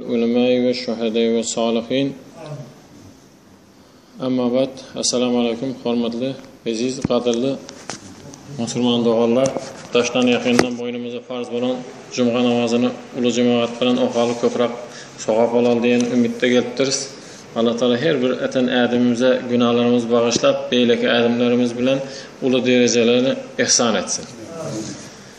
Ulemäi we şuhedäi we salihin Emma ba'd Esselamu aleýkum hormatly eziz gadyrly musulman doganlar daşdan ýakyndan boýnumyza farz bolan jumga namazyny uly jemagat bilen okaly köprak sogap alaly diýen umytda gelipdiris Allah taala her bir eten ädimimize günalarymyzy bagyşlap beýleki ädimlerimiz bilen uly derejeleri ihsan etsin.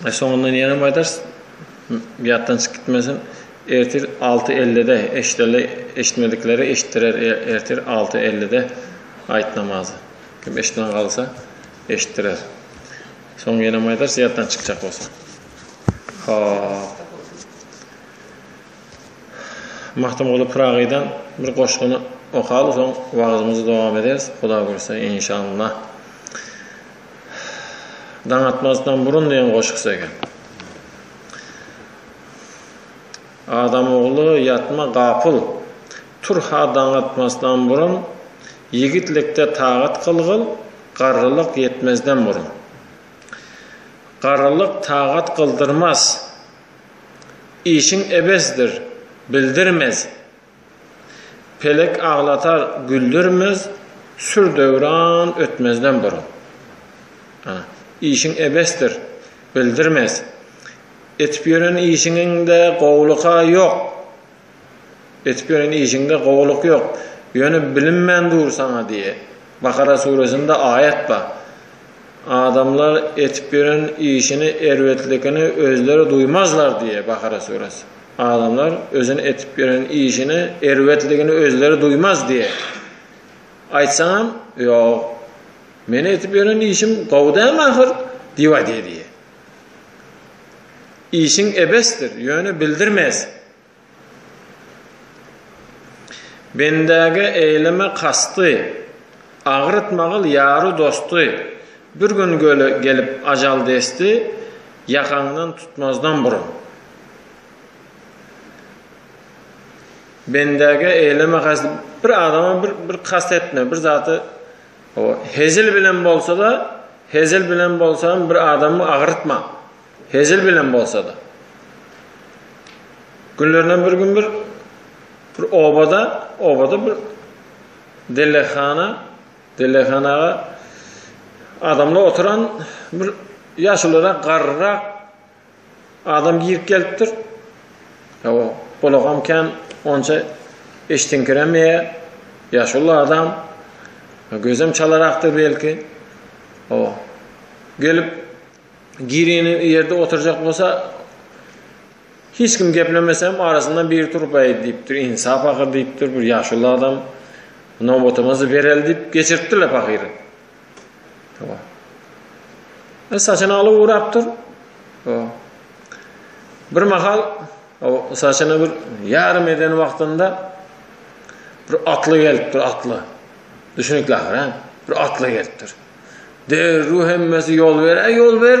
Soňundan ýenem aýdarys, ýatdan çykyp gitmesin. Ertir alty ellide eşideli eşitmedikleri eşitdirer ertir alty ellide aýt namazy. Kim eşitmän galsa eşitdirer. Soň ýenem aýdarys ýatdan çykjak bolsa. Hop. Magtymguly Pyragydan bir goşgyny okaly soň wagyzymyzy dowam ederis Huda gursa inşallah. Daň atmazdan burun diýen goşgusy eken. Adam ogly, ýatma gapyl, tur-ha daň atmazdan burun, ýigitlikde tagat kylgyl, garrylyk ýetmezden burun. Garrylyk tagat kyldyrmaz, işiň ebesdir, bildirmez, Pelek aglatar, güldürmez, Sür döwran ötmezden burun. Işiň ebesdir, bildirmez, Etip ýören işiňiňde gowulyk-a ýok. Etip ýören işiňde gowulyk ýok, Ýöne bilinmän dur saňa diýe. Bakara süresinde aýat bar. Adamlar etip ýören işini, erbetlikini özleri duýmazlar diýe, Bakara süresi. Adamlar özüni etip ýören işini erbetligini özleri duýmaz diýe. Aýtsaňam, Ýok, meni etip ýören işim gowy dälmi ahyr? diýibady diýe. Işiň ebesdir, ýöne bildirmez. Bendäge eýleme kasty, Agyryt magyl ýary dosty, Bir gün gelip ajal desti, Ýakaňdan tutmazdan burun. Bendäge eýleme has bir adama bir bir kast etme, bir zady o hezil bilen bolsa-da, hezil bilen bolsam bir adamy agyrtma. Hezil bilen bolsa-da. Günlerden bir gün bir bir obada, obada bir delehana, delehanaga adamlar oturan bir ýaşulyrak garryrak Adam girip gelipdir. Hawa, gulagam kän, onça eşdiňkiremeýär. Ýaşuly adam. Gözem çalarakdyr belki. Hawa. Gelip gireni ýerde oturjak bolsa, hiç kim geplemesem arasyndan biri turup aý diýipdir, insap ahyr diýipdir, bir ýaşuly adam. Nobatymyzy bereli diýip geçiripdirler pahyry. Hawa. E, saçyny alyp ugrapdyr. Hawa. Bir mahal o saçyny bir ýarym eden wagtynda bir atly gelipdir, atly. Düşünikli ahir, Bir atly gelipdir. Derru hemmesi ýol ber, ýol ber.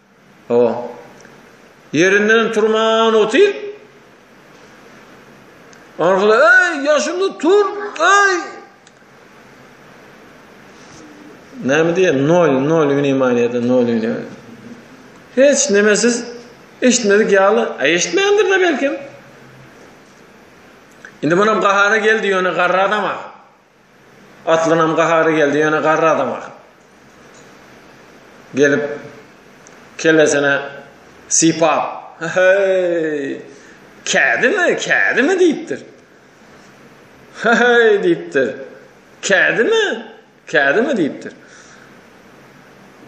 O, ýerinden turman otyr. Arkaly, eý, ýaşuly, tur, eý! Näme diýe, nol, nol wnimanýada, nol wnimanýada. Hiç nemesiz, eşitmedik ýaly, a eşitmändir de belkem. Indi munam gahara geldi, ýöne garra adama. Atlynam gahary geldi, ýöne garry adam ahyryn. Gelip, kellesine sypap, Heý! Kädimi, kädimi diýipdir. Heý diýipdir. Kädimi, kädimi diýipdir.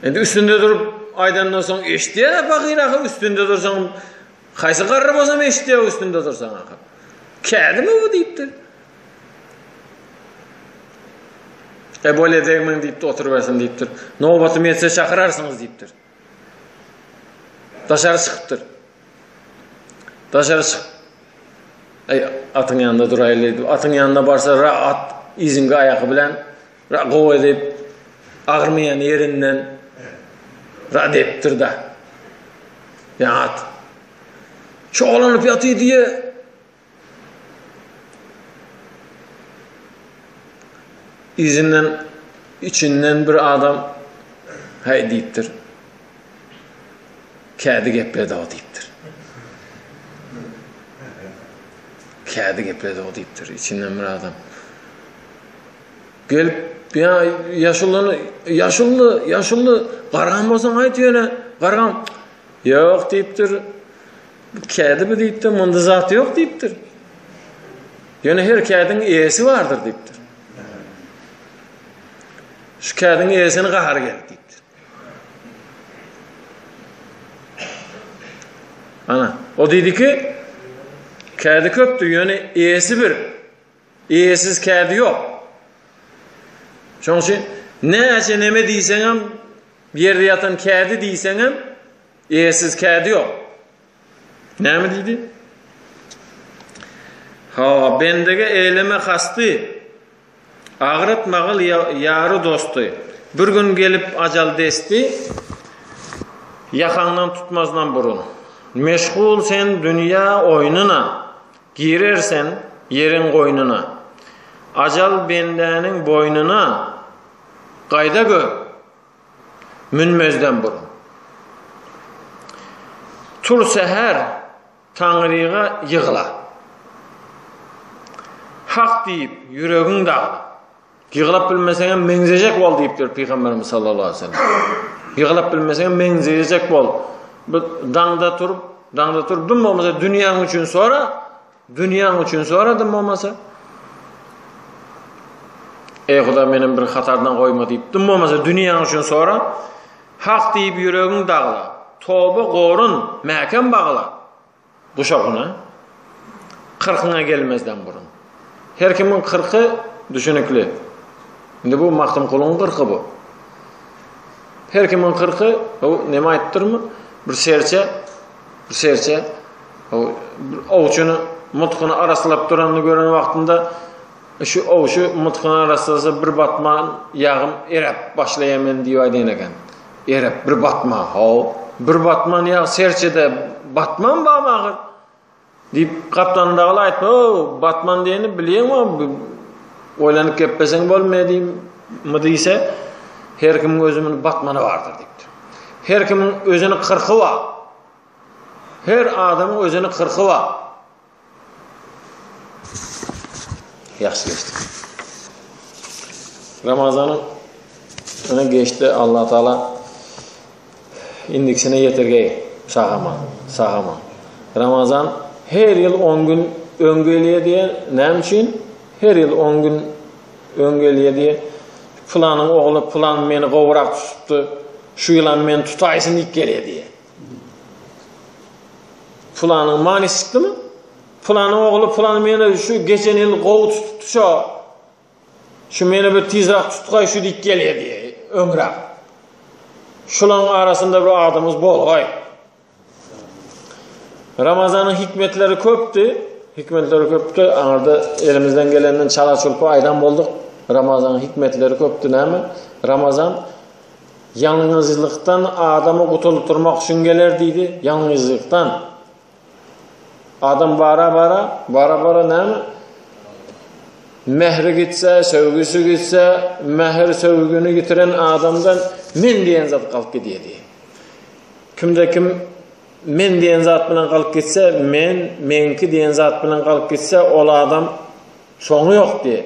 Endi üstünde durup aýdandan soň eşitýär pahyr ahyr üstünde dursaň haýsy garry bolsa eşitýär üstünde dursaň ahyr. Kädimi bu diýipdir. E bolýa degmeň diýipdi, oturybersin diýipdir. Nobatym ýetse çakyrarsyňyz diýipdir. Daşary çykypdyr. Daşary çyk. Eý, atyň ýanynda duraýly diýip, atyň ýanyna barsa, ra at iziňki aýaky bilen ra gowy diýip, agyrmaýan ýerinden ra depdir da. Ýa at. Çoglanyp ýatyr diýe, Yzyndan üçinden bir adam Häý diýipdir. Kädi gepledi-ow diýipdir. Kädi gepledi-ow diýipdir içinden bir adam. Gelip ýa ýaşulyny ýaşuly ýaşuly gargan bolsaň aýt ýöne gargan ýok diýipdir. Bu kädi bu diýipdir, munda zat ýok diýipdir. Ýöne her kädiň eýesi bardyr diýipdir. Şu kädiň eýesini gahary geldi diýipdir. Ana, o diýdi ki, kädi köpdür, ýöne eýesi bir. Eýesiz kädi ýok. Şoň üçin näçe neme diýseňem, ýerde ýatan kädi diýseňem, Eýesiz kädi ýok. Näme diýdi? Ho, bendege eýleme hasdy. Agyryt magyl ýary dosty. Bir gün gelip ajal desdi, ýakaňdan tutmazdan burun. Meşgul sen dünýä oýnuna, girer sen ýeriň goýnuna. Ajal bendäniň boýnuna, gaýda gör! münmezden burun tur säher Taňryga ýygla. Hak diýip ýüregiň dagla. Ýyglap bilmeseňem meňzejek bol diýipdir Pygamberimiz sallallahu aleyhi ve sellem. Ýyglap bilmeseňem meňzejek bol. Bu daňda turup, daňda turup dum bolmasa dünýäň üçin sora, Dünýäň üçin soradym bolmasa. Eý Huda menem bir hatardan goýma diýip dym bolmasa dünýäň üçin sora. Hak diýip ýüregiň dagla. Toba gorun mäkem bagla. Guşagyna. Kyrkyňa gelmezden burun. Her kimiň kyrky düşünikli. Indi bu Magtymgulyň kyrky bu. Her kimiň kyrky, o neme aýtdyrmy? Bir serçe Bir serçe owçuny mutkuny araslap duranyny gören wagtynda şu owçy mutkuny araslasa bir batman ýagym eräp başlaýar men diýip aýdan eken. Eräp bir batman, haw, bir batman ýag serçede batman bam agyr. Diýip, gapdalym dagyl aýtma, o-o, Batman diýeni bilýäňmi, o-o, oýlanyp gepleseň bolmyýa diýmmi diýse, Her kimiň özümin Batmany bardyr diýipdir. Her kimiň özüni kyrky bar. Her adamyň özüni kyrky bar. Ýagşy geçdi. Ramazanyň öňe geçdi, Allatagala. Indikisine ýetirgeý, şahama, şahama. Ramazan her ýyl on gün öň gelýär diýýär. Näme üçin? Her ýyl on gün öň gelýär diýýär. Pylanyň ogly pylan meni gowurak tutupdy. Şu ýylam meni tutaýsyn diýip gelýär diýýär. Pylanyň many çykdymy? Pylanyň ogly pylan meni şu geçen ýyl gowy tutupdy şo. Şu meni bir tizrak tutgaý şu diýip gelýärdi öňräk. Şulaň arasynda bir adamyz bolgaý. Ramazanyň hikmetleri köpdi. Hikmetleri köpdi. Aňarda elimizden gelenden çala çulpa aýdan bolduk. Ramazanyň hikmetleri köpdi näme? Ramazan ýalňyzlykdan adamy gutuldyrmak üçin geler diýdi. Ýalňyzlykdan. Adam bara bara, bara bara näme? Mähri gitse, söýgüsi gitse, mähir söýgüni gitiren adamdan men diýen zat galyp gidýär diýär. Kimde kim men diýen zat bilen galyp gitse, men, meňki diýen zat bilen galyp gitse, ol adam soňy ýok diýär.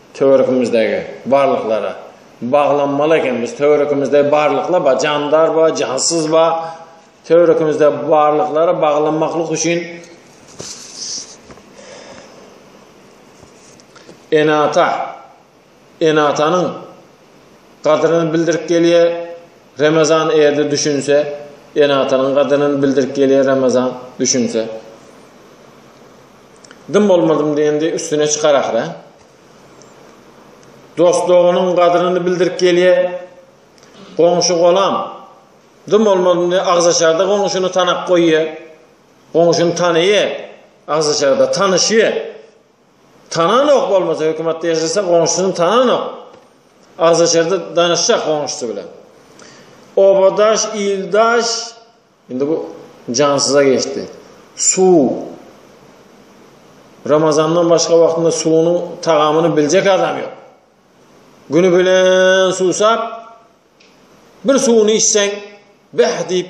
Töweregimizdäki barlyklara baglanmaly eken biz töweregimizde barlyklar bar jandar bar jansyz bar töweregimizde barlyklara baglanmaklyk üçin enata enatanyň gadyryny bildirip gelýär Remezan erde düşünse ene-atanyň gadyryny bildirip gelýär Remezan düşünse dym bolmadym diýende üstüne çykar ahyra dost doganyň gadyryny bildirip gelýär goňşy golam dym bolmadym diýende agzaçarda goňşyny tanap goýýar goňşyny tanaýar agzaçarda tanyşýar Tananok bolmasa hökümatda ýaşasa goňşusyny tananok. Agzaçerde danyşjak goňşusy bilen. Obadaş, ildaş indi bu jansyza geçdi. Suw. Ramazandan başga wagtynda suwunyň tagamyny biljek adam ýok. Güni bilen suwsap bir suwuny içseň bäh diýip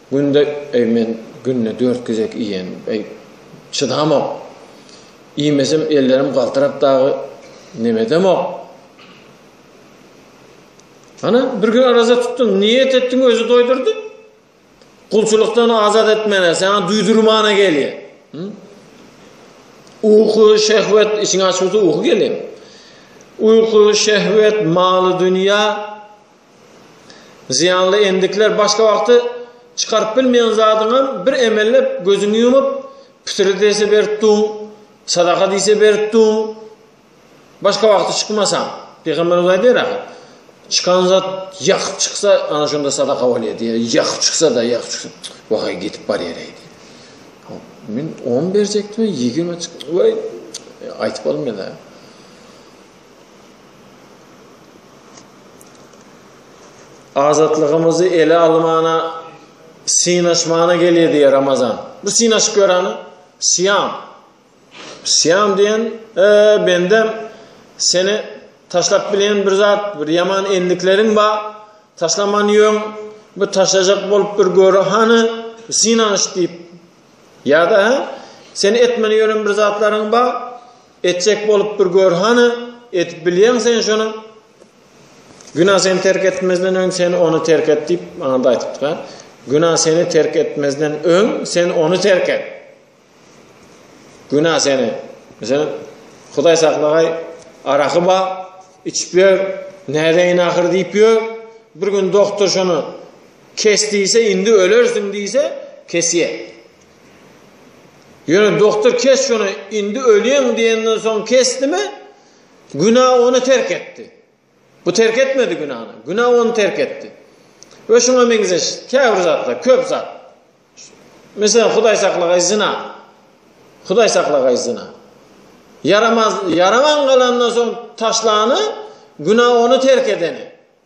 Günde eý men günde dört gezek iýen eý çydamok iýmesem ellerim galtyrap dagy nemedemok Ana bir gün araza tutdun niýet etdiň özi doýdurdy Gulçulykdan azat etmene sana duýdurmana gelýär Uýky şehwet içiňi açyp uýky gelýär Uýky şehwet maly dünýä Zyýanly endikler başga wagty çykaryp bilmeýän zadyňam bir emellep gözüňi ýumup, pitiri dese berip dur, sadaka diýse berip dur, başga wagty çykmasaň. Pygamberimiz aýdýar ahir, Çykan zat ýakyp çyksa, ana şonda sadaka bolýar diýýär. Ýakyp çyksa-da, ýakyp çyksa, wahaý gidip barýar-eý diýip. Men on berjekdim, ýigrimi çykdy. Waý, aýdyp bolmaýar-a. Azatlygymyzy ele almana, synaşmana gelýär diýär Ramazan. Bir synaşyp görany, syýam. Syýam diýen, e, bendem seni taşlap bilen bir zat, bir ýaman endikleriň bar. Taşlaman ýöň, bir taşajak bolup bir göre hany, synanyş diýip. Ýa-da, Sen etmeli ýören bir zatlaryň bar. Etjek bolup bir gör hany, edip bilýäň sen şony? Günä seni terk etmezden öň sen ony terk et diýip maňa da aýdypdyka. Günä seni terk etmezden öň sen ony terk et. Günä seni. Meselem, Hudaý saklagaý, araky ba, içip ýör, nädeýin ahyr diýip ýör. Bir gün doktor şony kes diýse, indi ölersiň diýse, kesýär. Ýöne doktor kes şony, indi ölýäň diýenden soň kesdimi? Günä ony terk etdi. Bu terk etmedi günäni. Günä ony terk etdi. We şuňa meňzeş käbir zatlar, köp zat. Meselem, Hudaý saklagaý zyna. Hudaý saklagaý zyna. Ýaramaz, ýaraman galandan soň taşlany, günä ony terk edeni.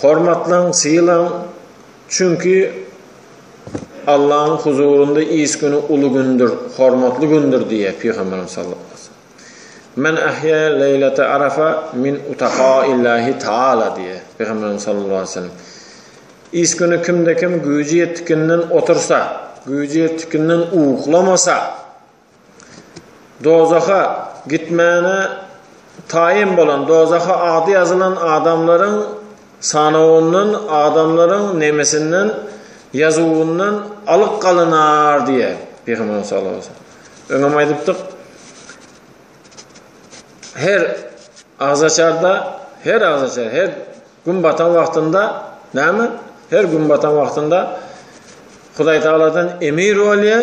Hormatlaň, sylaň, çünki Allanyň huzurynda iş güni uly gündür, hormatly gündür diýýär Pygamberimiz sallallahu aleýhi we sellem. Men ahýa leýlete arafa min utaqa illahi taala diýýär Pygamberimiz sallallahu aleýhi we sellem. Iş güni kimde-kim güýji ýetdikinden otursa, güýji ýetdikinden uklamasa, Dozaha gitmäne taýyn bolan dozaha ady ýazylan adamlaryň sanawyndan adamlaryň nemesinden ýazuwyndan alyk galynar diýýär Pygamberimiz sallallahu aleýhi we sellem. Öňem aýdypdyk, her agzaçarda, her agzaçar, her gün batan wagtynda näme? Her gün batan wagtynda Hudaý Tagaladan emir bolýar.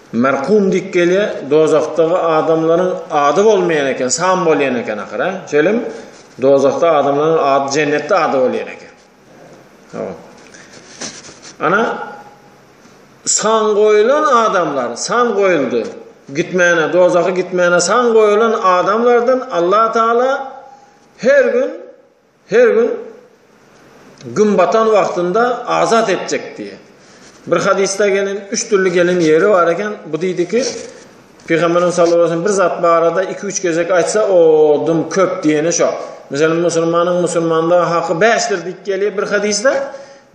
Merkum diýip gelýär, dozahdaky adamlaryň ady bolmaýan eken, san bolýan eken ahyr, hä? Şeýlemi? Dozahda adamlaryň ady jennetde ady bolýan eken. Hawa. Ana san goýulan adamlar, san goýuldy. Gitmäne, dozaha gitmäne san goýulan adamlardan Allah Taala her gün Her gün Gün batan wagtynda azat etjek diýe. Bir hadysda gelen, üç dürli gelen ýeri bar eken. Bu diýdi ki, Pygamberimiz sallallahu aleyhi ve sellem bir zat barada iki-üç gezek aýtsa, o dum köp diýeni şo. Meselem, musulmanyň musulmanda haky bäşdir diýip gelýär bir hadysda.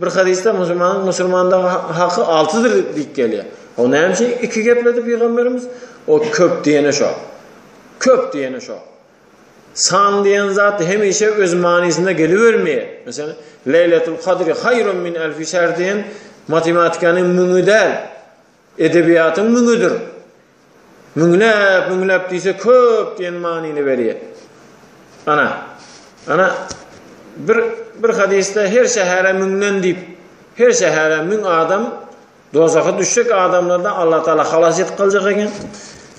Bir hadysda musulmanyň musulmanda haky altydyr diýip gelýär. O näme üçin iki gepledi Pygamberimiz? O köp diýeni şo. Köp diýeni şo. San diýen zat hemişe öz manysynda gelibermeýär. Meselem, Leýletul Kadri haýrun min elfi şähr diýen matematikanyň müňi däl, edebiýatyň müňüdir. Müňläp, müňläp diýse köp diýen manyny berýär. Ana, ana bir bir hadysda her şähere müňden diýip, her şähere müň adam Dozaha düşjek adamlardan Allah Taala halas edip galjak eken.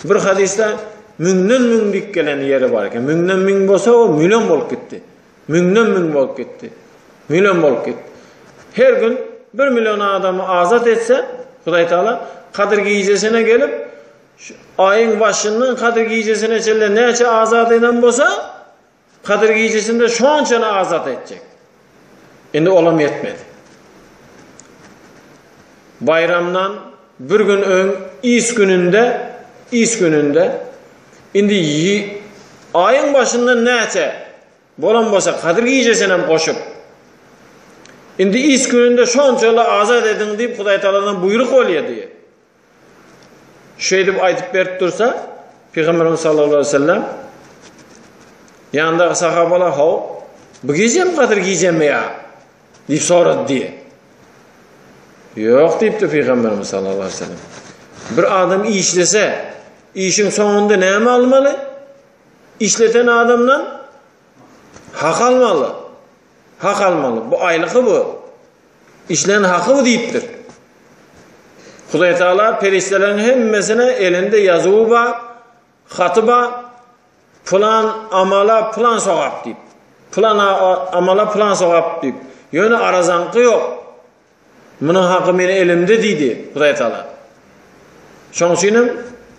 Bir hadysda müňden müň dik gelen ýeri bar eken. Müňden müň bolsa o million bolup gitdi. Müňden müň bolup gitdi. Million bolup gitdi. Her gün 1 million adamy azat etse, Hudaý Taala Kadyr gijesine gelip, aýyň başyndan Kadyr gijesine çenli näçe azat eden bolsa, Kadyr gijesinde şonçany azat etjek. Indi olam ýetmedi. Baýramdan bir gün öň iş gününde, iş gününde indi aýyň başynda näçe bolan bolsa Kadyr gijesini hem goşup Indi iş gününde şonçaly azat ediň diýip Hudaý Taaladan buýruk bolýar diýip. Şeýdip aýdyp berip dursa, Pygamberimiz sallallahu aleyhi ve sellem ýandaky sahabalar haw, bu gijem gadyr gijemi ýa? diýip sorady diýe. Ýok diýipdi Pygamberimiz sallallahu aleyhi ve sellem. Bir adam işlese, işiň soňunda näme almaly? Işleten adamdan hak almaly. Hak almaly. Bu aýlygy bu. Işlän haky bu diýipdir. Hudaý Taala perişdeleriň hemmesine elinde ýazuwy bar, haty bar. Plan amala plan sogap diýip. Plan amala plan sogap diýip. Ýöne arazaňky ýok. Munuň haky meniň elimde diýdi Hudaýtagala. Şonuň üçin hem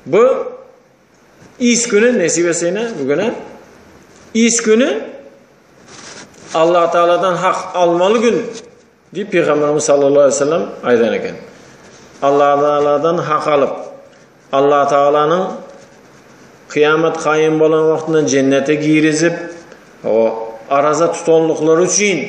bu iş güni nesip etseýne bu güne iş güni Allah Taala'dan hak almaly gün diýip Pygamberimiz sallallahu aleyhi ve sellem aýdan eken. Allah Taala'dan hak alyp, Allah Taala'nyň kıyamet kayyum bolan wagtynda cennete girizip, o araza tutanlyklary üçin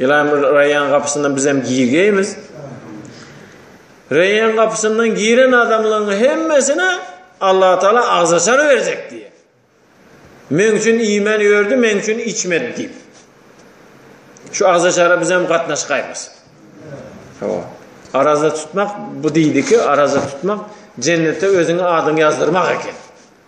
Ilaýym Reýan gapysyndan bizem girgeýmiz. Reýan gapysyndan giren adamlaryň hemmesine Allah Taala agzaçar berjek diýýär. Men üçin iýmän ýördi, men üçin içmedi diýip. Şu agzaçara bizem gatnaşgaýmyz. Hawa. Araza tutmak bu diýdiki, araza tutmak jennetde özüňe adyňy ýazdyrmak eken.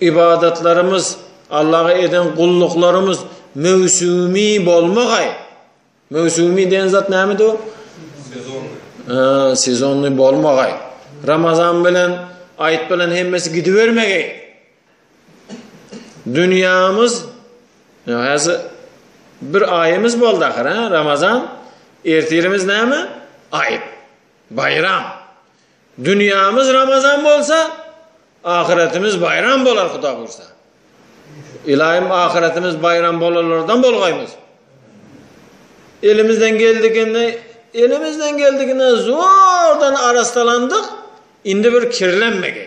ybadatlarymyz, Allaha eden gulluklarymyz möwsümi bolmagaý. Möwsümi diýen zat näme diýip? Sezonly. Sezonly bolmagaý. Ramazan bilen aýt bilen hemmesi gidibermegi. Dünýämiz häzir bir aýymyz boldy ahyr, Ramazan. Ertirimiz näme? Aýt. Baýram. Dünýämiz Ramazan bolsa, ahyretimiz baýram bolar Huda buýursa. Ylaýym ahyretimiz baýram bolanlardan bolgaýmyz. Elimizden geldigini, elimizden geldigini zordan arassalandyk, indi bir kirlenmegi.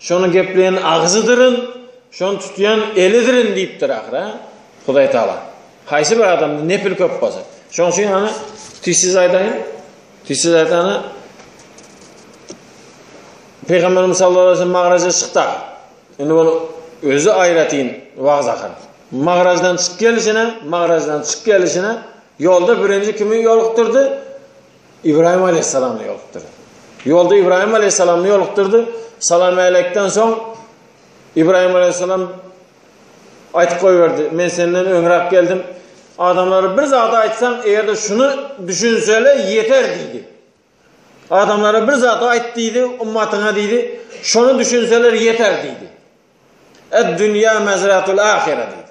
Şony gepleýän agzydyryn, şony tutýan elidrin diýipdir ahyry-a Hudaý Taala. Haýsy bir adamda nepil köp bolsa. Şoň üçin hany tizsiz aýdaýyn. Tizsiz aýdany Pygamberimiz sallallahu aleyhi ve sellem magraja çykdy. Indi ol özü aýratyn wagz akan. Magrajdan çyk gelişine, magrajdan çyk gelişine ýolda birinji kimi ýolukdyrdy? Ibrahim aleýhissalamy ýolukdyrdy. Ýolda Ibrahim aleýhissalamy ýolukdyrdy. Salam äleýkden soň Ibrahim aleýhissalam aýtyp goýberdi. Men senden öňräk geldim. Adamlara bir zat aýtsaň, eger-de şuny düşünsele ýeter diýdi. Adamlara bir zat aýt diýdi, ummatyňa diýdi, şony düşünseler ýeter diýdi. Ed-dünýä mezratul ahire diýdi.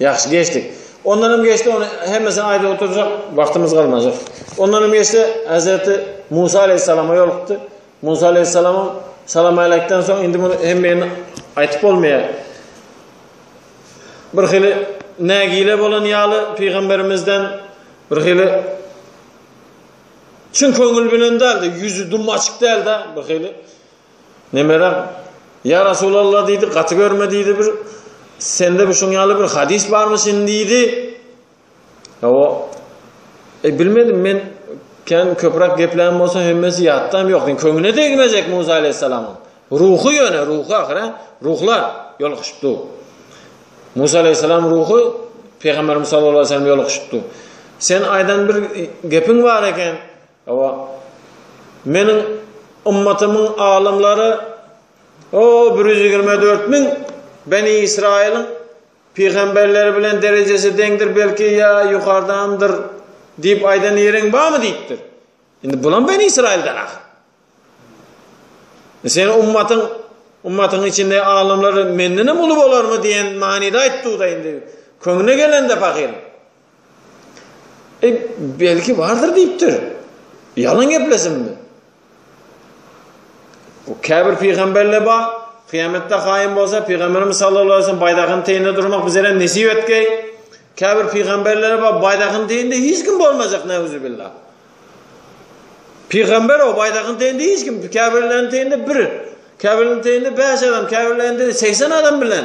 Ýagşy geçdik. Ondan hem geçdi, ony hemmesini aýdyp oturjak wagtymyz galmajak. Ondan hem geçdi, Hazreti Musa aleyhissalama ýolukdy. Musa aleyhissalamyň salam aýlakdan soň indi muny hemmeýini aýdyp bolmaýar. Bir hili nägile bolan ýaly pygamberimizden bir hili Çün köňül bilen däldi, ýüzi dum açyk däldi, bir hili. Nemerem, Ýa Resulalla diýdi, gaty görme diýdi bir, sende bir şuň ýaly bir hadys barmyşyn diýdi. Hawa. E bilmedim men kän köpräk geplän bolsa hemmesi ýatda hem ýok. Sen köňüne degmejek Musa aleyhisselamyň. Ruhy ýöne ruhy ahyra ruhlar ýolukşypdy. Musa aleyhisselam ruhy Peygamberimiz sallallahu aleyhi ve sellem ýolukşypdy. Sen aýdan bir gepiň bar eken. Hawa, Meniň ymmatymyň alymlary, o, bir ýüz ýigrimi dört müň Beni Ysraýylyň pygamberleri bilen derejesi deňdir, belki, ýa ýokardandyr diýip aýdan ýeriň barmy? diýipdir. Indi bulam Beni Ysraýyldan ahyr. Seniň ymmatyň, ymmatyň içindäki alymlar mendenem uly bolarmy diýen manyda aýtdygy-da indi köňlüne gelende pahyryň. E, belki bardyr diýipdir. Ýalan geplesinmi? Bu käbir pygamberler bar, kyýametde kaýym bolsa, pygamberimiz sallallahu aleyhi ve sellem baýdagyň teýinde durmak bizere nesip etgeý. Käbir pygamberler bar, baýdagyň teýinde hiç kim bolmajak, neuzubillah. Pygamber o baýdagyň teýinde hiç kim, käbirleriň teýinde bir, käbirleriň teýinde 5 adam, käbirlerinde 80 adam bilen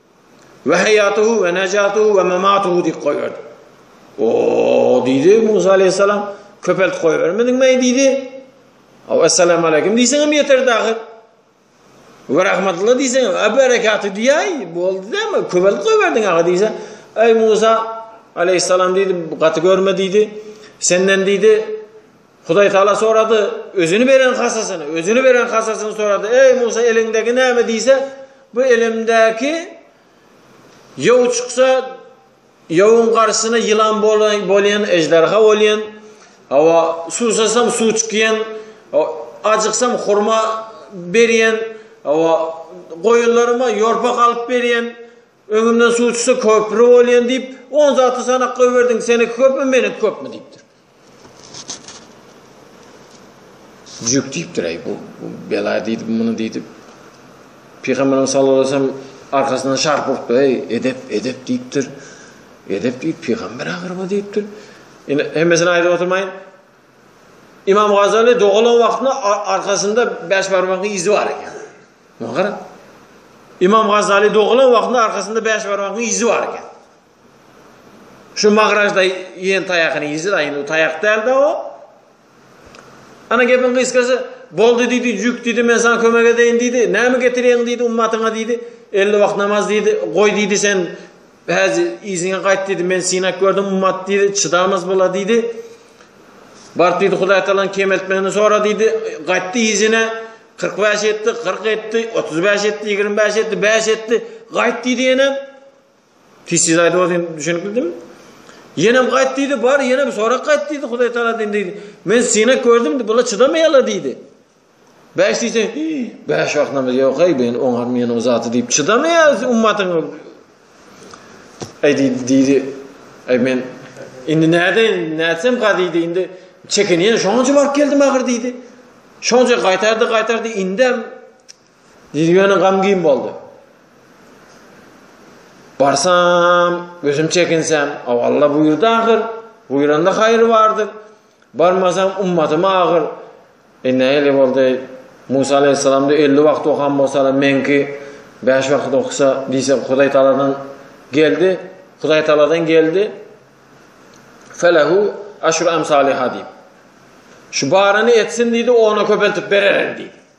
We haýatuhu we najatuhu we mamatuhu diýip goýberdi. O diýdi Musa aleyhissalam, köpelt goýbermediň meý diýdi. Aw assalamu aleykum diýseň hem ýeter dagy. We rahmatullah diýseň hem abarakatu diýäý, boldy dämi, köpelt goýberdiň aga diýse. Eý Musa aleyhissalam diýdi, gaty görme diýdi. Senden diýdi, Hudaýtagala sorady, Özüni beren hasasyny, Özüni beren hasasyny sorady, Eý, Musa, eliňdäki näme? diýse, Bu elimdäki ýow çyksa, ýowyň garşysyna ýylan bolýan, ežderha bolýan, hawa, suwsasam suw çykýan, ajyksam hurma berýän, hawa, goýunlaryma ýorpak alyp berýän, öňümden suw çyksa köpri bolýan diýip, on zady sanap goýberdiň, seniňki köpmi, meniňki köpmi diýipdir. Jüp diýipdir-eý, bu bela diýdi, muny diýdi. Pygamberimiz sallallahu aleyhi ve sellem arkasyndan şarp urupdyr, eý, edep, edep diýipdir. Edep diýip, pygamber agyryba diýipdir. Ine, hemmesini aýdyp oturmaýyn. İmam Gazali dogalan wagtynda arkasynda beş barmagyň izi bar eken. Muňa gara. İmam Gazali dogalan wagtynda arkasynda beş barmagyň izi bar eken. Şu magrajda iýen taýakyny iýjä-de, indi bu taýak däl-dä o. Ana gepiň gysgasy, Boldy diýdi, jük diýdi, men saňa kömek edeýin diýdi. Näme getirýäň diýdi, ummatyňa diýdi. Elli wagt namaz diýdi. Goý diýdi, sen häzi yzyňa gaýt diýdi, men synap gördüm, ummat diýdi, çydamaz bol-a diýdi. Baryp diýdi, Hudaý Talan kemeltmegini sora diýdi. Gaýtdy yzyna, kyrk bäş etdi, kyrk etdi, otuz bäş etdi, ýigrimi bäş etdi, bäş etdi. Gaýt diýdi ýene. Pis diýdi aýdyp ol diýdi düşünikli diýdim. Ýenem gaýt diýdi bar ýenem sorak gaýt diýdi Hudaý Taala diýdi. Men synak gördüm diýdi bula çydamaýala diýdi. Bäş diýse bäş wagt namaz ýok aý ben oňar men o zaty diýip çydamaýas ummatyň. Aý diýdi diýdi. Aý men indi näde näsem gazy diýdi indi çekinýän şoňa baryp geldim agyr diýdi. Şonca gaýtardy gaýtardy indem Jyzy ýöne gamgin boldy. Barsam, gözüm çekinsem, aw Alla buýurdy ahyr. Buýranda haýry bardyr. Barmasam ummatym agyr. E näle boldy? Musa aleyhisselamda 50 wagt okan bolsalar, menki 5 wagt oksa diýse Hudaý taladan geldi. Hudaý taladan geldi. Felahu aşru amsaliha diýip. Şu barany etsin diýdi, ona köpeltip bererin diýdi.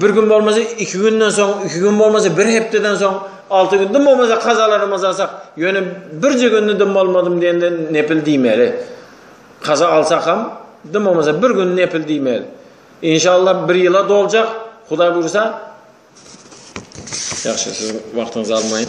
Bir gün bolmasa, iki günden soň, iki gün bolmasa, bir hepdeden soň, alty gün, dym bolmasa, kazalarymyz alsak, ýöne birje günde dym bolmadym diýende nepil diýmeli. Kaza alsak hem, dym bolmasa, bir gün nepil diýmeli. İnşallah bir ýyla doljak, Hudaý buýursa. Ýagşy, siziň wagtyňyzy almaýyn.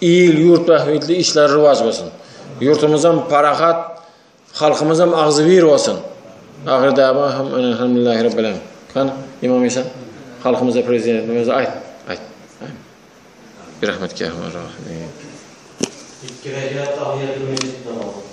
Il ýurt bähbitli işleri rowaç bolsun. Ýurtumyzam parahat, halkymyzam agzybir bolsun. Ahyr däwama hem Elhamdülillahi Rabbil Alemin. Hany, Imam Işan, halkymyza prezidentiň özi aýt, aýt. Birahmet ki Erhamar Rahimin. Iki rekat tahyýýaty mesjit namazy.